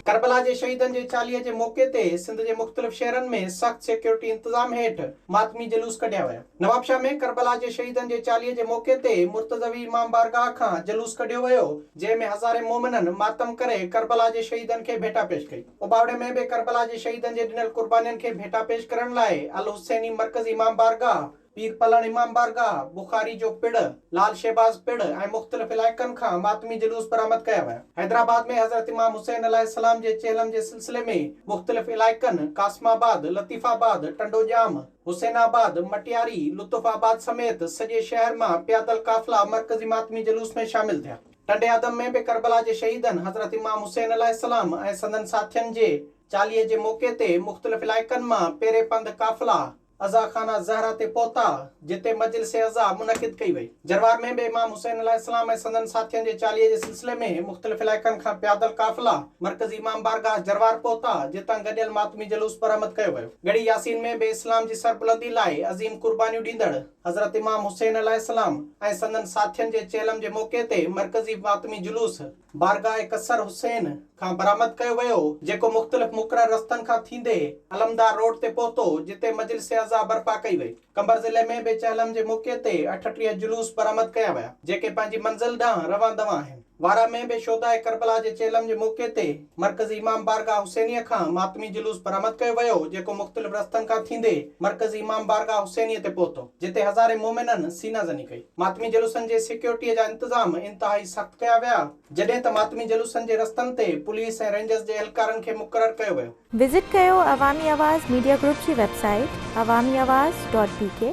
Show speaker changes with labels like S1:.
S1: ڪربلا جي شهيدن جي چاليهي جي موقعي تي سنڌ جي مختلف شهرن ۾ سخت سيڪيورٽي انتظام هيٺ ماتمي جلوس ڪڍيا ويا. نوابشاهه ۾ ڪربلا جي شهيدن جي چاليهي جي موقعي تي مرتضوي امام بارگاهه کان جلوس ڪڍيو ويو، جنهن ۾ هزارين مومنن ماتم ڪري ڪربلا جي شهيدن کي ڀيٽا پيش ڪئي. اٻاوڙي ۾ به ڪربلا جي شهيدن جي ڏنل قربانين کي ڀيٽا پيش ڪرڻ لاء الحسيني مرڪزي امام بارگاهه، پير پلڻ امام بارگاهه، بخاري جو پڙ، لعل شهباز پڙ ۽ مختلف علائقن کان ماتمي جلوس برآمد ڪيا ويا. حيدرآباد ۾ حضرت امام حسين عليه السلام جي چهلم جي سلسلي ۾ مختلف علائقن قاسم آباد، لطيف آباد، ٽنڊو ڄام، حسين آباد، مٽياري، لطف آباد سميت سڄي شهر مان پيادل قافلا مرڪزي ماتمي جلوس ۾ شامل ٿيا. ٽنڊي آدم ۾ به ڪربلا جي شهيدن حضرت امام حسين عليه السلام ۽ سندن ساٿين جي چاليهي جي موقعي تي مختلف علائقن مان پيري پنڌ قافلا، عزاخانه زهره تي پهتا، جتي مجلس عزا منعقد ڪئي وئي. جروار ۾ به امام حسين عليه السلام ۽ سندن ساٿين جي چاليهي جي سلسلي ۾ مختلف علائقن کان پيادل قافلا مرڪزي امام بارگاهه جروار پهتا، جتان گڏيل ماتمي جلوس برآمد ڪيو ويو. ڳڙهي ياسين ۾ به اسلام جي سربلندي لاء عظيم قربانيون ڏيندڙ حضرت امام حسين عليه السلام ۽ سندن ساٿين جي چهلم جي موقعي تي مرڪزي ماتمي جلوس، بارگاهه قصر حسين کان برآمد ڪيو ويو، جيڪو مختلف مقرر رستن کان ٿيندي علمدار روڊ تي پهتو، جتي مجلس عزا برپا ڪئي وئي. قمبر ضلعي ۾ به چهلم جي موقعي تي اٺٽيهه جلوس برآمد ڪيا ويا، جيڪي پنهنجي منزل ڏانهن روان دوان آهن. وارا ۾ به شهداء ڪربلا جي چهلم جي موقعي تي مرڪزي امام بارگاهه حسينيه کان ماتمي جلوس برآمد ڪيو ويو، جيڪو مختلف رستن کان ٿيندي مرڪزي امام بارگاهه حسينيه تي پهتو. جتي هزارين مومنن سينه زني ڪئي. ماتمي جلوسن جي سيڪيورٽيء جا انتظام انتهائي سخت ڪيا ويا، جڏهن ته ماتمي جلوسن جي رستن تي پوليس ۽ رينجرز جي اهلڪارن کي مقرر ڪيو ويو. وزٽ ڪيو
S2: عوامي آواز ميڊيا گروپ جي web
S1: site
S2: Awami Awaz dot بي ڪي.